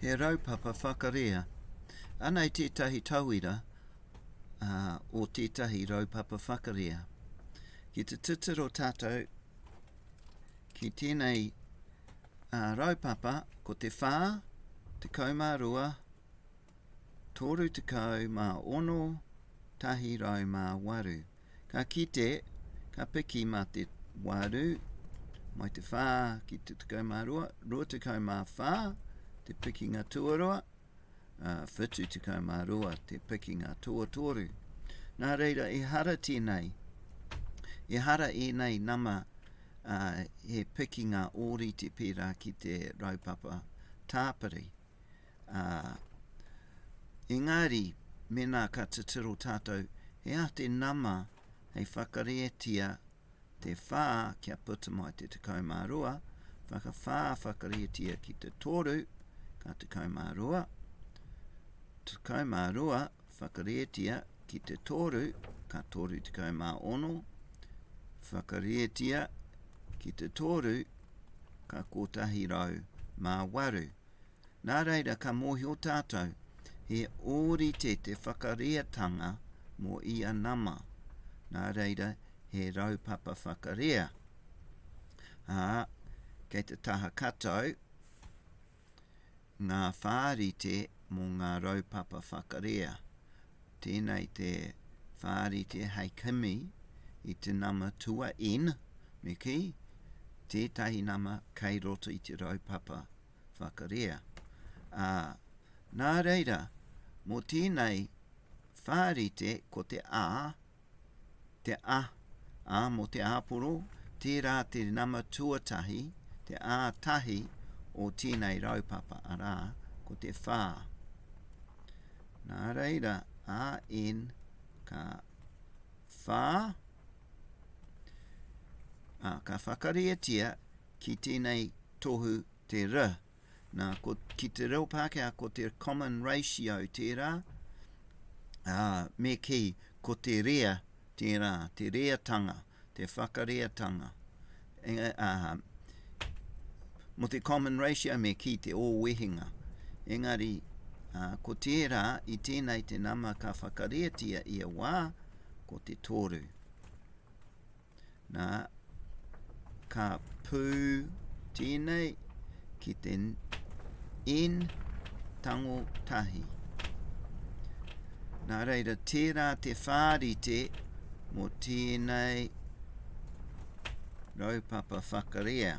He raupapa whakarea. Anei tētahi tauira uh, o tētahi raupapa whakarea. Ki te tuturo tātou ki tēnei uh, raupapa, ko te whā, te kaumārua, tōru tekau mā ono, tahi rau mā waru. Ka kite, ka piki mā te 8 mai te 4 ki te 12, 24 te pikinga tuarua, uh, 72 te pikinga tuatoru. Nā reira, e hara tēnei, e hara ēnei nama uh, he pikinga ōrite pērā ki te raupapa tāpiri. ā, engari mēnā ka titiro tātou he aha te nama hei whakarētia te whā kia puta mai te 12, whakawhā whakarētia ki te toru, ka 12, 12 whakarētia ki te toru, ka 36, whakarētia ki te toru, ka 108. Nā reira ka mōhio tātou he ōrite te whakareatanga mō ia nama, nā reira he raupapa whakarea. Ā, kei te taha katau ngā whārite mō ngā raupapa whakarea, Tēnei te whārite hei kimi i te nama tua in, me kī, tētahi nama kei roto i te raupapa whakarea. Ā, nā reira, mō tēnei whārite ko te a, Te a, a mo te aporo, tera te nama tuatahi, te a tahi o tenei raupapa, ara, ko te wha. Nā reira, a n ka wha, a, ka whakarietia ki tenei tohu te r, Nā, ko, ki te reo Pākehā, ko te common ratio tērā, ā, me kī, ko te rea tērā, te reatanga, te whakareatanga. E, ā, mo te common ratio me kī te ōwehenga. Engari, ā, ko tērā, i tēnei te nama ka whakareatia ia wā, ko te tōru. Nā, ka pū tēnei ki te N tango tahi. Nā reira, tērā te whārite mō tēnei raupapa whakarea.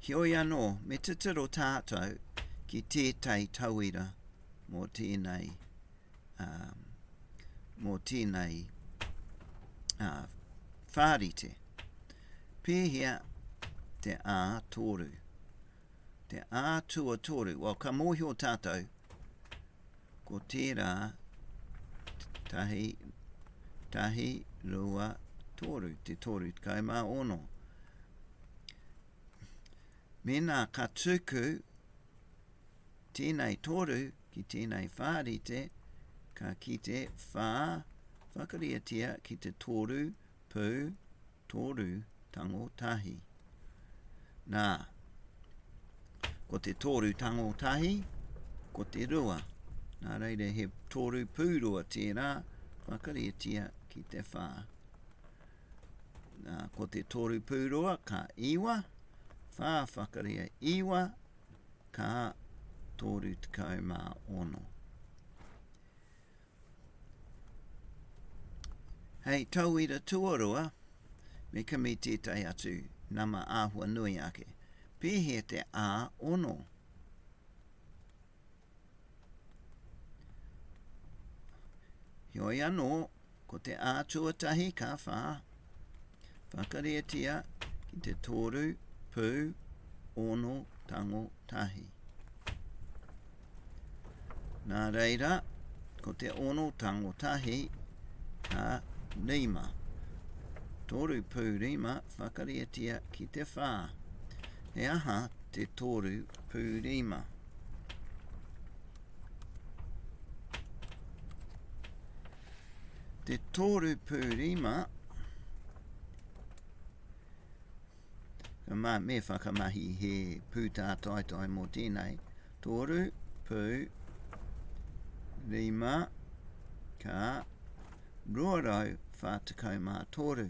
Heoi anō, me titiro tātou ki tētahi tauira mō tēnei, um, mō tēnei uh, whārite. Pēhea te ā tōru, te ā tuatoru. Well, ka mōhio tātou Ko tērā, tahi, tahi, rua, tōru, te tōru tekau mā ono. Mēnā ka tuku tēnei tōru ki tēnei whārite, ka kite whā, whakariatia ki te tōru pū, Toru tango tahi. Nā, ko te toru tango tahi, ko te rua. Nā reira he toru pūrua tērā, whakarietia ki te whā. Nā, ko te toru pūrua ka iwa, whā whakaria iwa, ka toru tekau mā ono. Hei tauira tuarua, me kimi tētahi atu nama āhua nui ake. Pēhea te ā-ono? Heoi anō, ko te ā-tuatahi ka whā, Whakarietia ki te tōru, pū, ono, tango, tahi. Nā reira, ko te ono tango tahi, ka rima. Tōru pū rima, whakarietia ki te whā. He aha te tōru pū rima? Te tōru pū rima, mā me whakamahi he pūtā taitoai mō tēnei, tōru pū rima ka 243.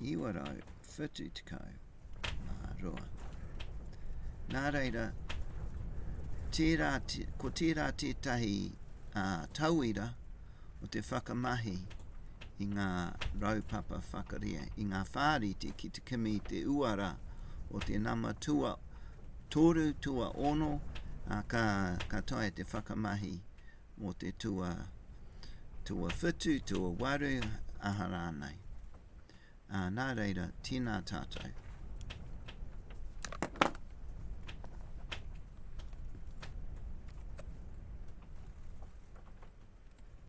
972. Nā reira, tērā, ko tērā tētahi uh, tauira o te whakamahi i ngā raupapa whakaria, i ngā whāriti ki te kimi te uara o te nama tua toru, tua ono, a ka, ka tae te whakamahi mō te tua, tua whutu, tua waru, aha rānei. Ā, nā reira, tēnā tātou.